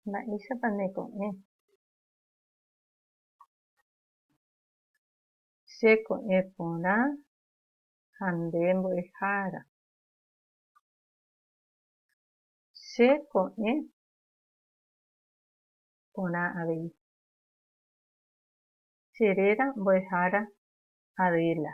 Mba'éichapa nde ko'ẽ? Che ko'ẽ porã ha nde mbo'ehára. Che ko'ẽ porã avei. Che réra mbo'ehára Adela.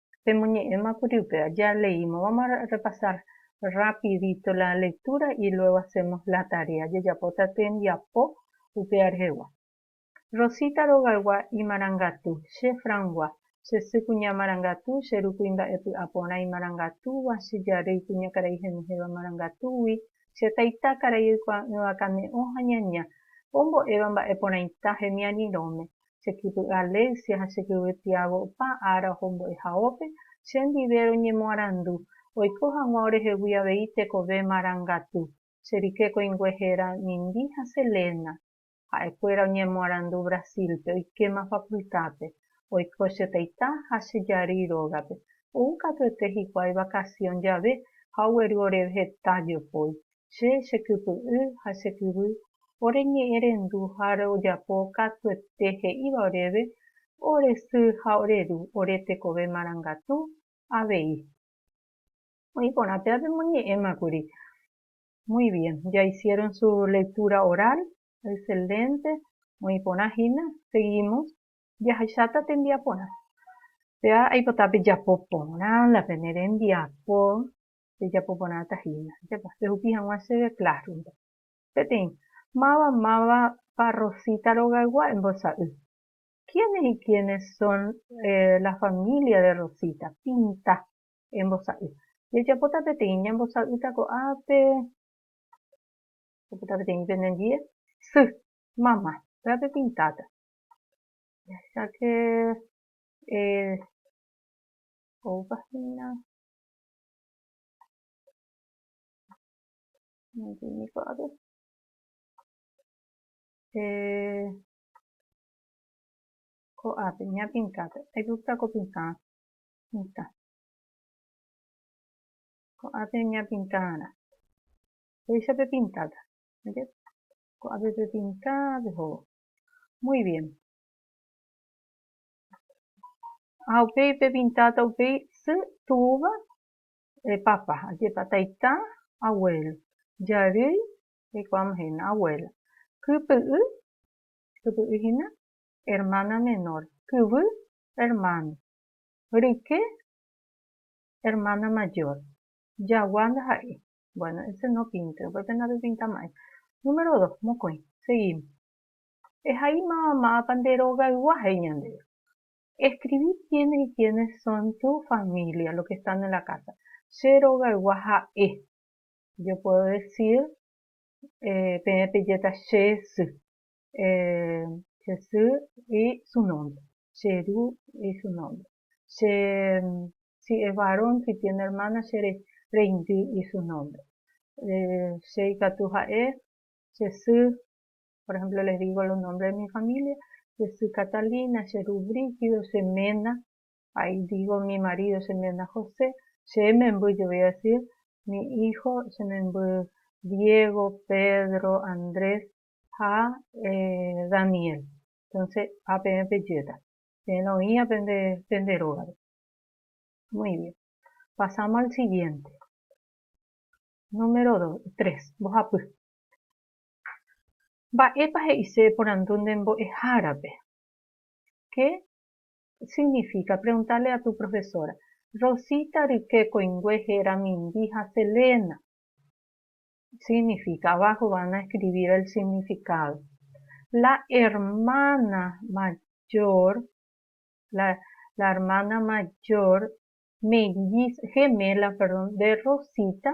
pemoñe'ẽmakuri upéva. Jaleímavama repasar rapidito la lectura y luego hacemos la tarea. Jajapóta tembiapo upéva rehegua. Rosita rogaygua imarangatu, che Francgua, che sy kuña marangatu, che ru kuimba'e py'aporã imarangatúva, che jarýi kuñakarai henyhẽva marangatúgui, che taita karai oikuaa'ỹva kane'õ ha ñaña, ombo'éva mba'eporãita hemiarirõme, che kypy Alexia ha che kyvy Tiago opa ára oho mbo'ehaópe che ndive roñemoarandu, oiko hag̃ua orehegui avei tekove marangatu, che rike koĩngue héra Nindi ha Selena. Ha'e kuéra oñemoarandu Brasil-pe, oikéma facultad-pe, oiko che taita ha che jarýi rógape, ou katuete hikuái vacación jave ha ogueru oréve heta jopói, Che chekypy'y ha che kyvy, ore ñe'ẽrendu ha ojapo katuete he'íva oréve, ore sy ha ore ru, ore tekove marangatu avei. Oĩ porã péva pemoñe'ẽma kuri. Muy bien, ya hicieron su lectura oral, excelente, oĩ porã hína, seguimos. Jahecháta tembiaporã. Péva aipota pejapo porã la pene rembiapo rejapo porãta hína. Ajapa, rehupi hag̃ua chéve Classroom-pe. Peteĩ, Máva mávapa Rosita rogaygua embosa'y? Quiénes y quiénes son la familia de Rosita? Pinta. Embosa'y. Jajapóta peteĩ, ñambosa'ýta ko'ápe, jajapóta peteĩ penendie, sy, mama, pévape pintáta. Jahecháke, eh, oúpa hína, Ko'ápe ñapinkápe aigusta ko pintã mitã. Ko'ápe ñapintãrã péicha pepintáta. Ko'ápe pepintã pehóvo. Muy bien. Ha upéi pepintáta upéi sy túva, papa, ajépa, taita, abuélo, jarýi, jaikuaáma hína, abuéla, kypy'y, kypy'y hína, ermána menór, kyvy, ermáno, ryke, ermána majór, jagua ndaha'éi. Buéno, ése nopínte, upépe napepintama'ỹ. Número dos, mokõi, seguímos. Ehaímava mávapa nde rogaygua he'i ñandéve. Eskrivi kiénes y kiénes son tu família, lo ke están en la kása. Che rogaygua ha'e. Yo puedo desir peẽ pejéta che sy, che sy y su nombre, che ru y su nombre, che si es varón, si tiene hermana, che reindy y su nombre. Che ikatu ha'e, che sy, Por ehémplo, les dígo los nombres de mi familia, che sy Catalina, che ru Brígido, che ména, ahí dígo mi marido, che ména José, che memby yo voy a decir mi hijo, che memby Diego, Pedro, Andrés ha Daniel. Entonces, ha peẽ pejéta, peẽ la oĩva pende rógape. Muy bien. Pasamos al siguiente. Número tres, mbohapy. Mba'épa he'ise porandu nde mbo'ehárape? Qué significa preguntarle a tu profesora? Rosita ryke koingue héra Mindy ha Selena. Significa, abajo van a escribir el significado. La hermana mayor, la, la hermana mayor, melliz, gemela, perdón, de Rosita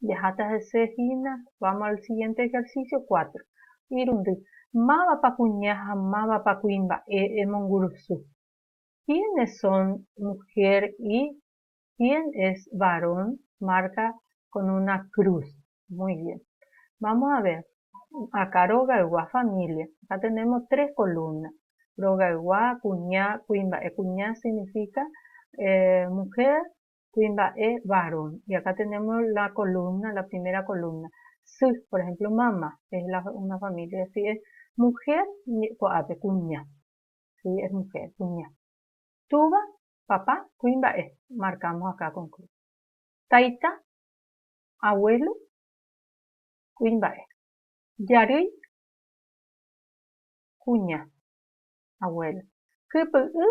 Jaháta hese hína, vamos al siguiente ejercicio cuatro. Irundy, Mávapa kuña ha mávapa kuimba'e emongurusu? Quiénes son mujer y quién es varón? Marca con una cruz. Muy bien. Vamos a ver. Acá rogaygua familia. Acá tenemos tres columnas. Rogaygua, kuña, kuimba'e. Kuña significa mujer kuimba'e varón, y acá tenemos la columna, la primera columna, sy, por ejemplo, mamá, es la, una familia, si es mujer, ko'ápe, kuña, si es mujer, kuña. Túva, papá, kuimba'e, marcamos acá con cruz. Taita, abuelo, kuimba'e. Jarýi, kuña, abuelo. Kypy'y,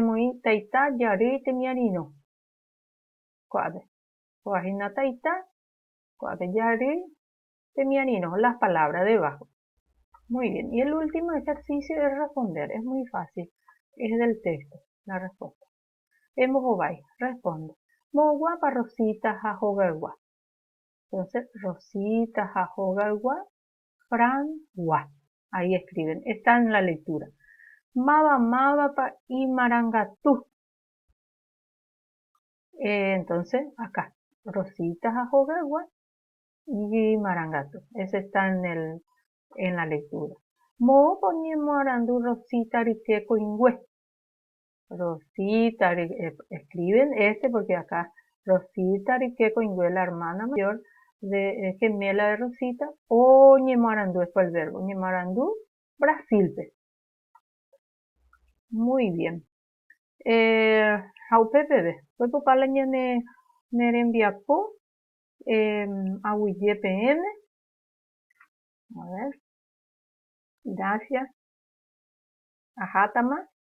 Emoĩ taita jarýi temiarĩrõ ko'ápe. Kóva hína taita, ko'ápe jarýi temiarĩrõ, las palabras debajo. Muy bien. Y el último ejercicio es responder. Es muy fácil. Es del texto la respuesta. Embohovái, responde. Moõguápa Rosita ha hogaygua? Entonces, Rosita ha hogaygua Francgua. Ahí escriben, está en la lectura. Máva mávapa imarangatu. Eh, entonces, acá. Rosita ha hogaygua imarangatu. Ese está en, el, en la lectura. Moõpa oñemoarandu Rosita rykye koingue. Rosita escriben este porque acá Rosita rike koingue la hermana mayor de gemela de Rosita oñemoarandu esto el verbo oñemoarandu Brasil-pe. Muy bien. Ha upe peve peko opa la ñane nerembiapo aguyje peẽme. A ver. Gracias. Ahátama.